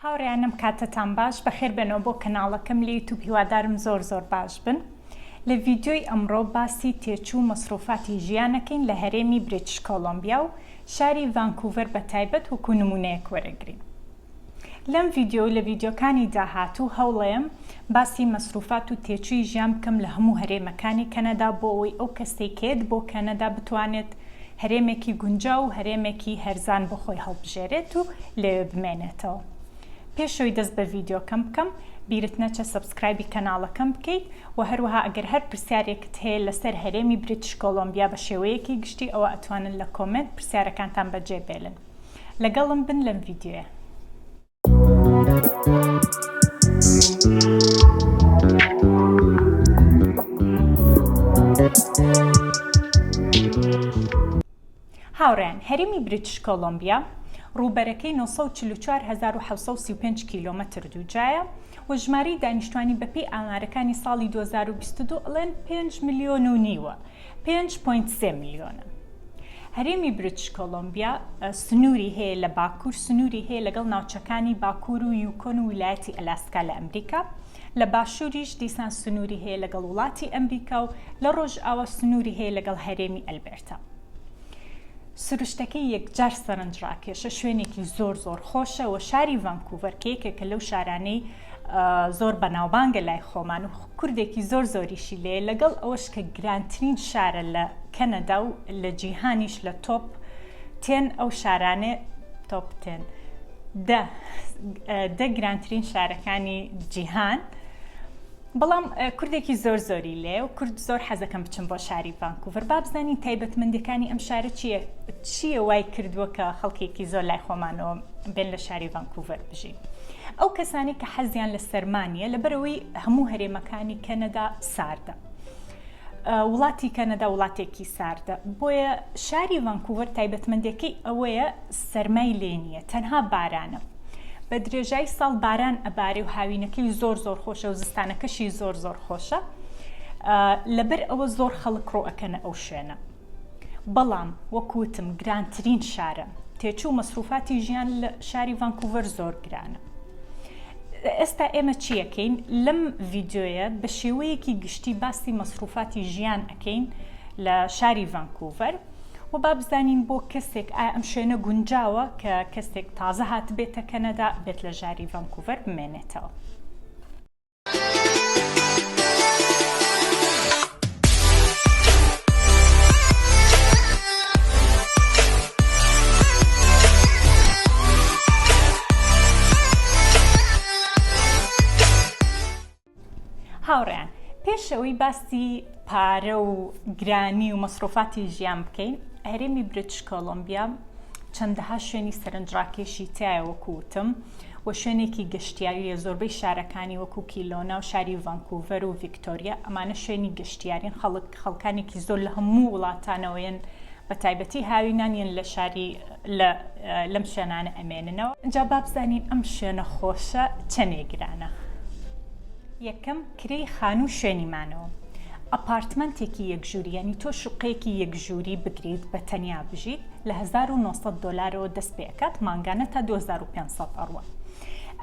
هاوڕێیانم کاتتان باش بەخێر بێنەوە بۆ کەناڵەکەم لە یوتوب هیوادارم زۆر زۆر باش بن لە ڤیدیۆی ئەمڕۆ باسی تێچوو مەسروفاتی ژیانەکەین لە هەرێمی بریتش کۆڵۆمبیا و شاری ڤانکوڤەر بە تایبەت وەکو نمونەیەک وەرەگرین لەم ڤیدیۆ و لە ڤیدیۆکانی داهاتوو هەوڵەیەم باسی مەسروفات و تێچووی ژیان بکەم لە هەموو هەرێمەکانی کەنەدا بۆ ئەوەی ئەو کەسەی کە یەت بۆ کەنەدا بتوانێت هەرێمێکی گونجاو و هەرێمێکی هەرزان بۆ خۆی هەڵبژێرێت و لەوێ بمێنێتەوە پێشەوەی دەست بە ڤیدیۆکەم بکەم بیرت نەچێت سەبسکرایبی کەناڵەکەم بکەیت و هەروەها ئەگەر هەر پرسیارێکت هەیە لەسەر هەرێمی بریتش کۆڵۆمبیا بە شێوەیەکی گشتی ئەوا ئەتوانن لە کۆمێنت پرسیارەکانتان بەجێ بێلن لەگەڵم بن لەم ڤیدیۆیە. هاوڕێیان هەرمی بریتش کۆلمبیا ڕووبەرەکەی 194735 کیلومتر دووجایە و ژماری دانیشتوانی بەپی ئامارەکانی ساڵی 2022 ئەڵێن 5 میلیۆن و نیوە. پێنج پۆینت سێ ملیۆنە. هەرێمی بریتش کۆلۆمبیا سنووری هەیە لە باکوور، سنووری هەیە لەگەڵ ناوچەکانی باکوور و یوکۆن و ویلایەتی ئەلاسکا لە ئەمریکا، لە باشووریش دیسان سنووری هەیە لەگەڵ وڵاتی ئەمریکا و لە ڕۆژاوا سنووری هەیە لەگەڵ هەرێمی ئەلبێرتا. سروشتەکەی یەکجار سەرنجڕاکێشە، شوێنێکی زۆر زۆر خۆشە و شاری ڤانکوڤەر کە یەکێکە لەو شارانەی زۆر بەناوبانگە لای خۆمان و کوردێکی زۆر زۆریشی لێ لەگەڵ ئەوەش کە گرانترین شارە لە کەنەدا و لە جیهانیش لە تۆپ تێن ئەو شارانێ تۆپ تێن دە دە گرانترین شارەکانی جیهان بەڵام کوردێکی زۆر زۆری لێ و کورد زۆر حەزەکەم بچم بۆ شاری ڤانکوڤەر با بزانین تایبەتمەندەکانی ئەم شارە چییە چییە وای کردووە کە خەڵکێکی زۆر لای خۆمانەوە بێن لە شاری ڤانکوڤەر بژین. ئەو کەسانەی کە حەزیان لە سەرما نیە لەبەرەوەی هەموو هەرێمەکانی کەنەدا ساردە. وڵاتی کەنەدا وڵاتێکی ساردە بۆیە شاری ڤانکووەر تایبەتمەندەکەی ئەوەیە سەرمای لێ نیە تەنها بارانە. بە درێژایی ساڵ باران ئەبارێ و هاوینەکەی زۆر زۆر خۆشە و زستانەکەشی زۆر زۆر خۆشە لەبەر ئەوە زۆر خەڵک ڕۆ ئەکەنە ئەو شوێنە. بەڵام وەک وتم گرانترین شارە، تێچوو مەسروفاتی ژیان لە شاری ڤانکوڤەر زۆر گرانە. ئێستا ئێمە چی ئەکەین؟ لەم ڤیدیۆیە بە شێوەیەکی گشتی باسی مەسروفاتی ژیان ئەکەین لە شاری ڤانکوڤەر و با بزانین بۆ کەسێک ئایا ئەم شوێنە گونجاوە کە کەسێک تازە هاتبێتە کەنەدا بێت لە ژاری ڤانکوڤەر بمێنێتەوە. هاوڕێیان پێشەوەی باسی پارە و گرانی و مەسرۆفاتی ژیان بکەین هەرێمی برتش کۆلمبیا چەندەها شوێنی سەرنجڕاکێشی تایە وەکوتم و شوێنێکی گەشتیارییە، زۆربەی شارەکانی وەکو کیلۆنا و شاری ڤانکوڤەر و ڤیکتۆریا ئەمانە شوێنی گەشتیارین خەڵک خەڵکانێکی زۆر لە هەموو وڵاتانەوە یەن بە تایبەتی هاوینان یەن لە شاری لە لەم شوێنانە ئەمێننەوە. جا با بزانین ئەم شوێنە خۆشە چەنێ گرانە. یەکەم. کرێی خانوو شوێنی مانەوە ئەپارتمەنتێکی یەک ژووری یانی تۆ شوقەیەکی یەک ژووری بگریت بە تەنیا بژیت لە هەزار و نۆ سەد دۆلارەوە دەست پێ ئەکات مانگانە تا دوو هەزار و پێنج سەد ئەڕوا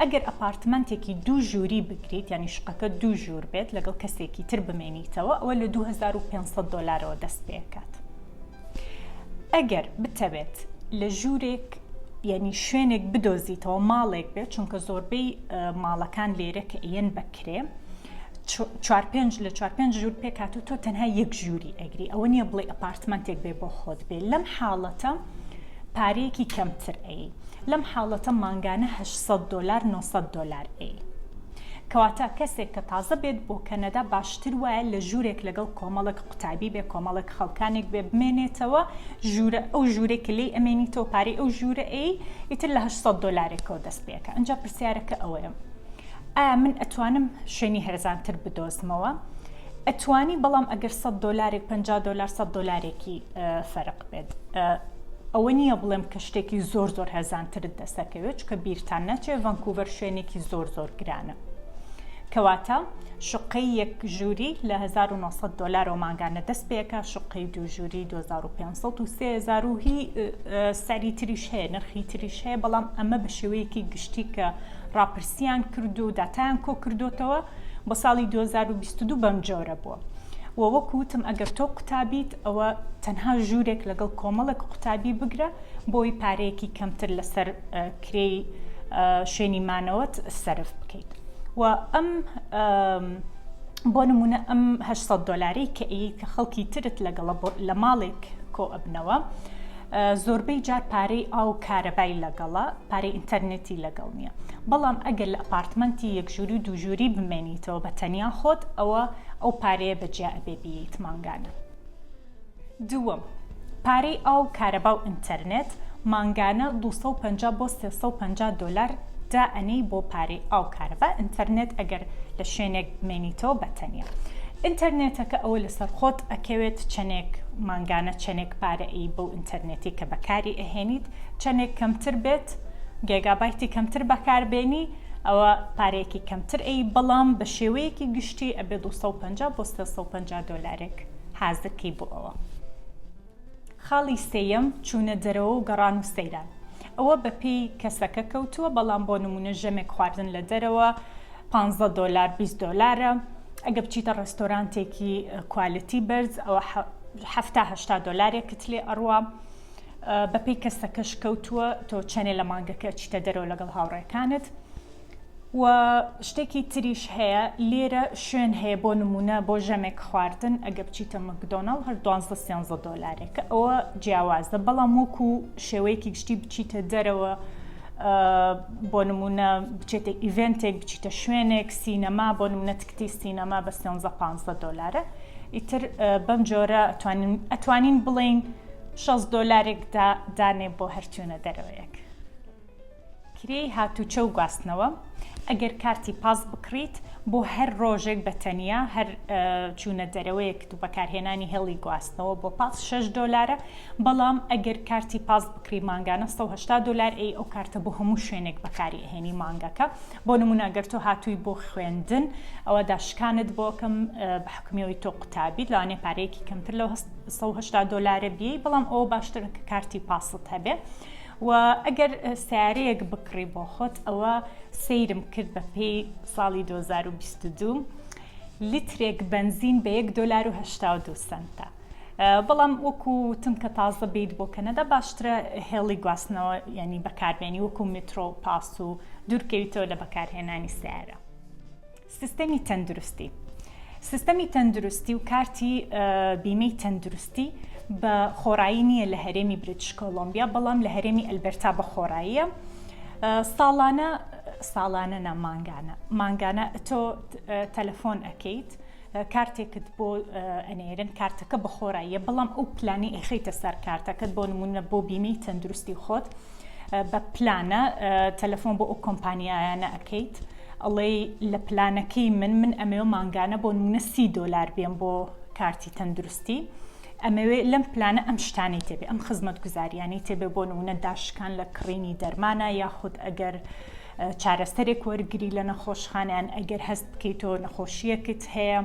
ئەگەر ئەپارتمەنتێکی دوو ژووری بگریت یانی شوقەکە دوو ژوور بێت لەگەڵ کەسێکی تر بمێنیتەوە ئەوە لە دوو هەزار و پێنج سەد دۆلارەوە دەست پێ ئەکات. ئەگەر بتەوێت لە ژوورێک یعنی شوێنێک بدۆزیتەوە ماڵێک بێت چونکە زۆربەی ماڵەکان لێرە کە ئەیەن بەکرێ چوار پێنج لە چوار پێنج ژوور پێکات و تۆ تەنها یەک ژووری ئەگری ئەوە نییە بڵێ ئەپارتمنتێک بێ بۆ خۆت بێ لەم حاڵەتە پارەیەکی کەمتر ئەی لەم حاڵەتە مانگانە 800 دلار 900 دلار ئەی کەواتە کەسێک کە تازە بێت بۆ کەنەدا باشتر وایە لە ژوورێک لەگەڵ کۆمەڵێک قوتابی بێ کۆمەڵێک خەڵکانێک بێ بمێنێتەوە ژوورە ئەو ژوورەی کە لێی ئەمێنیتەوە پارەی ئەو ژوورە ئەی ئیتر لە هەشت سەد دۆلارێکەوە دەست پێکە ئەنجا پرسیارەکە ئەوەیە ئایا من ئەتوانم شوێنی هەرزانتر بدۆزمەوە؟ ئەتوانی بەڵام ئەگەر سەد دۆلارێک پەنجا دۆلار سەد دۆلارێکی فەرق بێت ئەوە نییە بڵێم کە شتێکی زۆر زۆر هەرزانترت دەسەکەوێت چکە بیرتان نەچێ ڤەنکوڤەر شوێنێکی زۆر زۆر گرانە کەواتە شقەی یەک ژووری لە 1900 دلارەوە ماگانە دەست پێکە شقەی دوو ژووری 2500 و هی سەری تریش هەیە نرخی تریش هەیە بەڵام ئەمە بە شێوەیەکی گشتی کە ڕاپرسییان کرد و داتایان کۆکردۆتەوە بۆ ساڵی دوو هەزار و بیست و دوو بەم جۆرە بووە و وەکو وتم ئەگەر تۆ قوتابیت ئەوە تەنها ژوورێک لەگەڵ کۆمەڵێک قوتابی بگرە بۆی پارەیەکی کەمتر لەسەر کرێی شوێنی مانەوەت سەرف بکەیت و ئەم بۆ نمونە ئەم هە دۆلاری کە ئەیت کە خەڵکی ترت لەگەڵە لە ماڵێک کۆ ئەبنەوە زۆربەی جار پارەی ئاو و کارەبای لەگەڵە، پارەی ئینتەرنێتی لەگەڵ نییە. بەڵام ئەگەر لە ئەپارتمەنتی یەک ژووری و دوو ژووری بمێنیتەوە بە تەنیا خۆت، ئەوە ئەو پارەیە بە جیا ئەبێ بیەیت مانگانە. دووەم، پارەی ئاو و کارەبا و ئینتەرنێت، مانگانە دوو سەد و پەنجا بۆ سێ سەد و پەنجا دۆلار دائەنێی بۆ پارەی ئاو کارەبا، ئینتەرنێت ئەگەر لە شوێنێک بمێنیتەوە بە تەنیا. ئینتەرنێتەکە ئەوە لەسەر خۆت ئەکەوێت چەنێک مانگانە چەنێک. پارە ی بەو ئینتەرنێتی کە بەکاری ئەهێنیت چەنێک کەمتر بێت گێگابایتی کەمتر بەکار بێنی ئەوە پارەیەکی کەمتر ی بەڵام بە شێوەیەکی گشتی ئەبێ دوو سەد و پەنجا بۆ سێ سەد و پەنجا دۆلارێک حازر کەی بۆ ئەوە. خاڵی سێیەم چوونە دەرەوە و گەڕان و سەیران. ئەوە بە پێی کەسەکە کەوتووە بەڵام بۆ نمونە ژەمێک خواردن لە دەرەوە پانزە دۆلار بیست دۆلارە ئەگە بچیتە ڕێستۆرانتێکی کوالتی بەرز ئەوە حەفتا هەشتا دۆلارێکت لێ ئەڕوا بە پێی کەسەکەش کەوتووە تۆ چەنێ لە مانگەکە چیتە دەرەوە لەگەڵ هاوڕێکانت و شتێکی تریش هەیە لێرە شوێن هەیە بۆ نمونە بۆ ژەمێک خواردن ئەگە بچیتە مەکدۆناڵ هەر دوانزدە سیانزە دۆلارێکە ئەوە جیاوازە بەڵام وەکو شێوەیەکی گشتی بچیتە دەرەوە بۆ نمونە بچێتە ئیڤێنتێک بچیتە شوێنێک سینەما بۆ نمونە تکتی سینەما بە سیانزە پانزدە دۆلارە ئیتر بەم جۆرە ئەتوانین ئەتوانین بڵین شەست دۆلارێک دانێ بۆ هەرچوونە دەرەوەیەک. کرێی هاتوچۆ و گواستنەوە، ئەگەر کارتی پاس بکڕیت بۆ هەر ڕۆژێک بە تەنیا، هەر چوونە دەرەوەیەکت و بەکارهێنانی هێڵی گواستنەوە بۆ پاس شەش دۆلارە، بەڵام ئەگەر کارتی پاس بکڕی مانگانە سەد و هەشتا دۆلار ئەی ئەو کارتە بۆ هەموو شوێنێک بەکاری ئەهێنی مانگەکە، بۆ نموونە ئەگەر تۆ هاتووی بۆ خوێندن ئەوا داشکانت بۆ ئەکەم بە حوکمی ئەوەی تۆ قوتابیت لەوانەیە پارەیەکی کەمتر لەو سەد و هەشتا دۆلارە بیەی بەڵام ئەوە باشترە کە کارتی پاست هەبێ. و ئەگەر سەیارەیەک بکڕی بۆ خۆت ئەوە سەیرم کرد بە پێی ساڵی دوو هەزار و بیست و دوو لیترێک بەنزین بە یەک دۆلار و هەشتا و دوو سەنتە بەڵام وەکو وتم کە تازە بیت بۆ کەنەدا باشترە هێڵی گواستنەوە یعنی بەکاربێنی وەکو مترۆ و پاس و دوورکەویتەوە لە بەکارهێنانی سیارە سیستەمی تەندروستی سیستەمی تەندروستی و کارتی بیمەی تەندروستی بە خۆڕایی نییە لە هەرێمی بریتش کۆلۆمبیا بەڵام لە هەرێمی ئەلبەرتا بە خۆڕاییە ساڵانە ساڵانە نە مانگانە مانگانە تۆ تەلەفۆن ئەەکەیت کارتێکت بۆ ئەنێرن کارتەکە بەخۆراییە بەڵام ئەو پلانی ئەخیتە سەر کارتەکەت بۆ نمونە بۆ بیمەی تەندروستی خۆت بە پلانە تەلەفۆن بۆ ئەو کۆمپانیایانە ئەکەیت ئەڵێی لە پلانەکەی من من ئەمەوێ مانگانە بۆ نمونە سی دۆلار بێم بۆ کارتی تەندروستی ئەمەوێ لەم پلانە ئەم شتانی تێبێ ئەم خزمەت گوزاریانی تێبێ بۆ نمونە داشکان لە کڕینی دەرمانە یاخود ئەگەر چارەسەرێک وەرگری لە نەخۆشخانیان ئەگەر هەست بکەیتەوە نەخۆشیەکت هەیە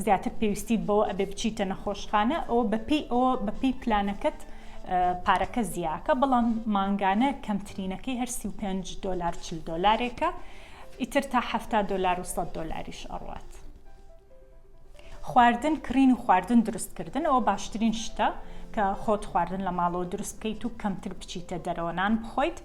زیاتر پێویستیت بەوە ئەبێ بچیتە نەخۆشخانە ئەوە بەپێی ئەوە بەپێی پلانەکەت پارەکە زیاکە بەڵام مانگانە کەمترینەکەی هەر سی و پێنج دۆلار چل دۆلارێکە ئیتر تا حەفتا دۆلار و سەد دۆلاریش ئەڕوات خواردن کڕین و خواردن دروستکردن ئەوە باشترین شتە کە خۆت خواردن لە ماڵەوە دروست بکەیت و کەمتر بچیتە دەرەوە نان بخۆیت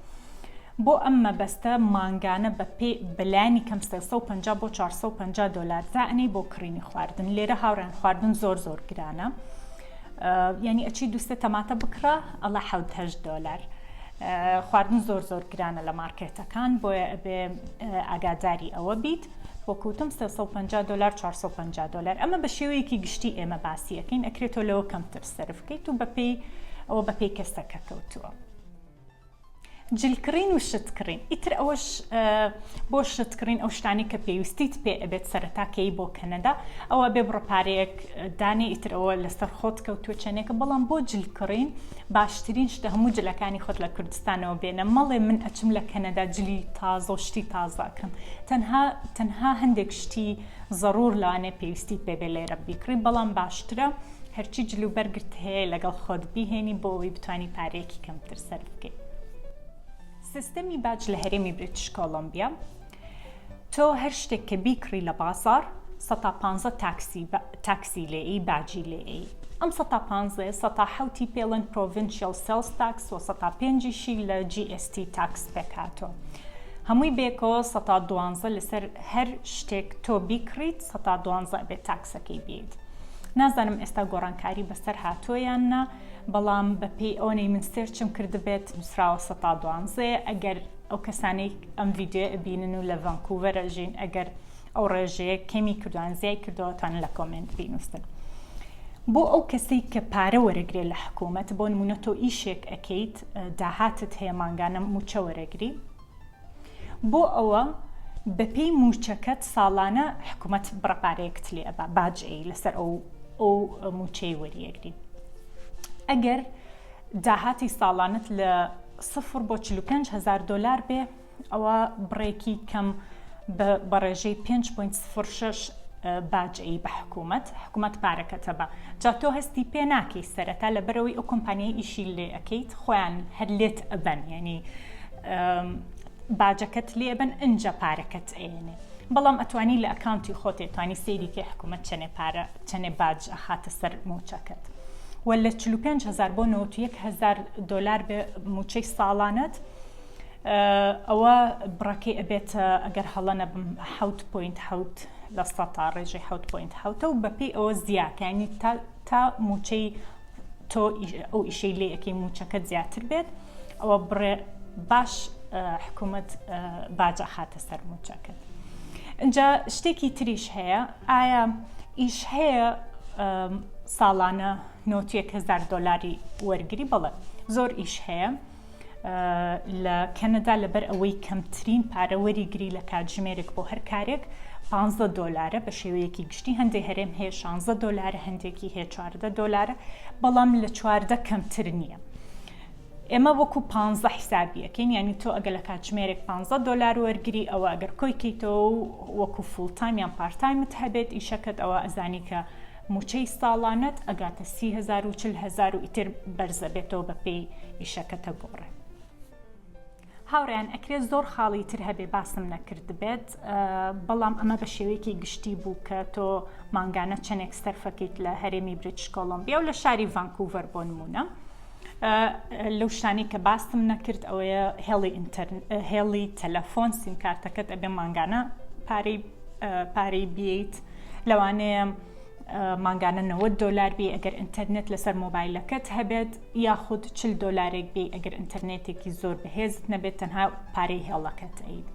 بۆ ئەم مەبەستە مانگانە بە پێ بە لانی کەم سێ سەد و پەنجا بۆ چوار سەد و پەنجا دۆلار دائەنێی بۆ کڕینی خواردن لێرە هاوڕێیان خواردن زۆر زۆر گرانە یعنی ئەچی دووسێ تەماتە بکڕە ئەڵە حەوت هەشت دۆلار خواردن زۆر زۆر گرانە لە مارکێتەکان بۆیە ئەبێ ئاگاداری ئەوە بیت وەکوتم 350 دلار 450 دلار ئەمە بە شێوەیەکی گشتی ئێمە باسیەکەین ئەکرێتەوە لەوە کەمتر سرفکەیت و بەپی ئەوە بەپی کەسەکە کەوتووە. جل کڕین و شت کڕین ئیتر ئەوەش بۆ شت کڕین ئەو شتانی کە پێویستیت پێ ئەبێت سەرتاکەی بۆ کەنەدا ئەوە بێ بڕپارەیەک دانێ ئیتر ئەوە لەسەر خۆت کەوتووە چەنێکە بەڵام بۆ جل کڕین باشترین شتە هەموو جلەکانی خۆت لە کوردستانەوە بێنە مەڵێ من ئەچم لە کەنەدا جلی تازە و شتی تازەکەم تەنها تەنها هەندێک شتی زەڕور لەوانێ پێویستی پێبێ لێرە بیکڕی بەڵام باشترە هەرچی جل و بەرگت هەیە لەگەڵ خۆت بیهێنی بۆ ئەوەی بتانی پارەیەکی کەمتر سەرف بکەی. سیستەمی باج لە هەرێمی بریتش کۆڵۆمبیا، تۆ هەر شتێک کە بیکڕی لە بازاڕ سەتا پانزە تاکسی تاکسی لێ ئی باجی لێ ئی ئەم سەتا پانزەیە سەتا حەوتی پێ ڵێن پرۆڤینشیەڵ سێڵس تاکس وە سەتا پێنجیشی لە جی ئێس تی تاکس پێک هاتووە هەمووی بێکەوە سەتا دوانزە لەسەر هەر شتێک تۆ بیکڕیت سەتا دوانزە ئەبێ تاکسەکەی بێیت. نازانم ئێستا گۆڕانکاری بەسەر هاتووە یان نا بەڵام بەپێی ئەوەی من سێرچم کردبێت نووسراوە سە تا دوانزەیە ئەگەر ئەو کەسانەی ئەم ڤیددیو ئەبینن و لە ڤانکووەرە ژین ئەگەر ئەو ڕێژەیە کەمی کردوان زیای کردەوەتان لە کۆمنت بینووسن. بۆ ئەو کەسێک کە پارە وەرەگرێت لە حکوومەت بۆ نمونە تۆ ئیشێک ئەەکەیت داهاتت هەیە مانگانە موچە وەرەگری بۆ ئەوە بە پێی موچەکەت ساڵانە حکومەت بڕە پارەیەکت لێ ئەبا باج ئەی لەسەر ئەو ئەو موچەی وەریەگری ئەگەر داهاتی ساڵانت لە سفر بۆ چل و پێنج هەزار دۆلار بێ ئەوە بڕێکی کەم بە بەڕێژەی پێنج پۆینت سفر شەش باج ئەی بە حکومەت حکومەت پارەکەتە بە جا تۆ هەستی پێ ناکەی سەرەتا لەبەرەوەی ئەو کۆمپانیای ئیشی لێ ئەەکەیت خۆیان هەر لێت ئەبەن یعنی باجەکەت لێبەن ئنجا پارەکەت ئەیەنێ بەڵام ئەتوانی لە ئەکاونتی خۆتێ توانی سەیری کەی حکوومەت چەنێ پارە چەنێ باج ئەخاتە سەر موچەکەت و لە 45 هزار بۆ 91 هزار دلار بێ موچەی ساڵانەت ئەوە بڕەکەی ئەبێت ئەگەر هەڵە نەبم حوت پوینت حوت لە سەتا ڕێژەی حوت پوینت حوتە و بەپی ئەوە زیاتانی تا تا موچەی تۆ ئەو ئیشەی لێ ئەەکەی موچەکەت زیاتر بێت ئەوە بڕێ باش حکوومەت باجە خاتە سەر موچەکەت اینجا شتێکی تریش هەیە ئایا ئیش هەیە ساڵانە 90هزار دلاری وەرگری بەڵێ زۆر ئیش هەیە لە کەنەدا لەبەر ئەوەی کەمترین پارە وەریگری لە کاتژمێرێک بۆ هەر کارێک 15 دۆلارە بە شێوەیەکی گشتی هەندێک هەرێم هەیە 16 دۆلارە هەندێکی هەیە 14 دۆلارە بەڵام لە چواردە کەمتر نییە. ئێمە وەکو 15 حیسابیەکەین ینی تۆ ئەگە لە کاتژمێرێک 15 دلار وەرگری ئەوە ئەگەر کۆیکەیتەوە وەکو فولتایم یان پارتایمت هەبێت ئیشەکەت ئەوە ئەزانی کە موچەی ساڵانەت ئەگاتە سی هەزار و چل هەزار و ئیتر بەرزەبێتەوە بەپێی ئیشەکەتە گۆڕێ. هاوڕێیان ئەکرێت زۆر خاڵی تر هەبێ باسم نەکردبێت بەڵام ئەمە بە شێوەیەکی گشتی بوو کە تۆ مانگانە چەندێک سەرفەکەیت لە هەرێمی بریتش کۆڵۆمبیا و لە شاری ڤانکوڤەر بۆ نمونە لەو شتانی کە باستم نەکرد ئەوەیە هێڵی ئینتەرن هێڵی تەلەفۆن سیمکارتەکەت ئەبێ مانگانە پارەی پارەی بیت لەوانەیە مانگانە 90 دلار بی ئەگەر ئینتەرنێت لەسەر مۆبایلەکەت هەبێت یاخود چل دلارێک بی ئەگەر ئینتەرنێتێکی زۆر بەهێزت نەبێت تەنها پارەی هێڵەکەت ئەیت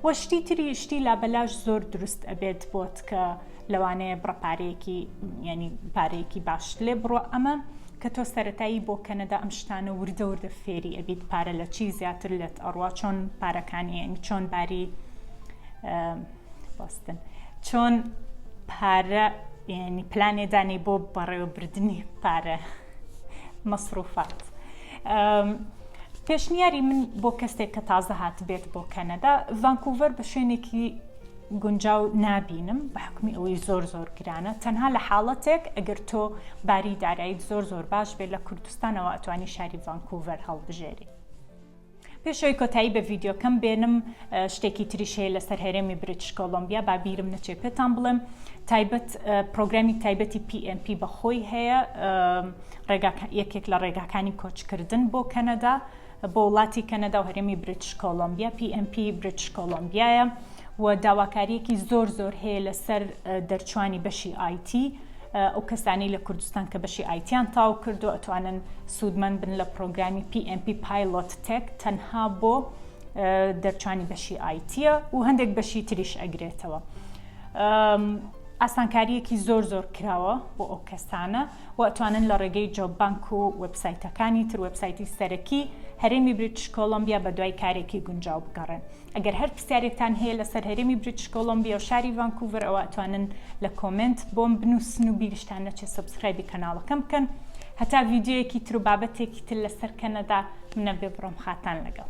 وە شتی تری شتی لابەلاش زۆر دروست ئەبێت بۆت کە لەوانەیە بڕپارەیەکی ینی پارەیەکی باش لێ بڕۆ ئەمە کە تۆ سەتایی بۆ کەنەدا ئەم شتانە وردە وردە فێری ئەبیت پارە لە چی زیاتر لێت ئەڕوا چۆن پارەکانی چۆن باری بەستن چۆن پارە ینی پلانێدانی بۆ بەڕێوەبردننی پارە مەسروفات. پێشنیاری من بۆ کەسێک کە تازە هات بێت بۆ کەنەدا ڤانکوڤەر بە شوێنێکی گونجاو نابینم بە حکمی ئەوەی زۆر زۆر گرانە تەنها لە حاڵەتێک ئەگەر تۆ باری دارایت زۆر زۆر باش بێت لە کوردستانەوە ئەتوانی شاری ڤانکوڤەر هەڵبژێری پێش ئەوەی کۆتایی بە ڤیدیۆکەم بێنم شتێکی تریش هەیە لەسەر هەرێمی بریتش کۆلۆمبیا با بیرم نەچێ پێتان بڵێم تایبەت پرۆگرامی تایبەتی PMP بەخۆی هەیە یەکێک لە ڕێگاکانی کۆچکردن بۆ کەنەدا بۆ وڵاتی کەنەدا و هەرێمی بریتش کۆلۆمبیا PMP بریتش کۆلۆمبیایە و داواکاریەکی زۆر زۆر هەیە لەسەر دەرچوانی بەشی آیتی ئەو کەسانەی لە کوردستان کە بەشی ئایتیان تەواو کردووە ئەتوانن سوودمەند بن لە پڕۆگرامی PMP Pilot Tech تەنها بۆ دەرچوانی بەشی ئایتیە و هەندێک بەشی تریش ئەگرێتەوە. ئاسانکاریەکی زۆر زۆر کراوە بۆ ئەو کەسانە و ئەتوانن لە ڕێگەی جۆبانک و وبسایتەکانی تر وبسایتی سەرەکی هەرێمی بریتش کۆلمبیا بە دوای کارێکی گونجاو بگەڕێن. ئەگەر هەر پرسیارێکتان هەیە لەسەر هەرێمی بریتش کۆڵۆمبیا و شاری ڤانکوڤەر ئەوا ئەتوانن لە کۆمێنت بۆم بنوسن و بیرشتان نەچێت سەبسکرایبی کەناڵەکەم بکەن هەتا ڤیدیۆیەکی تر و بابەتێکی تر لەسەر کەنەدا منە بێ بڕۆم خاتان لەگەڵ.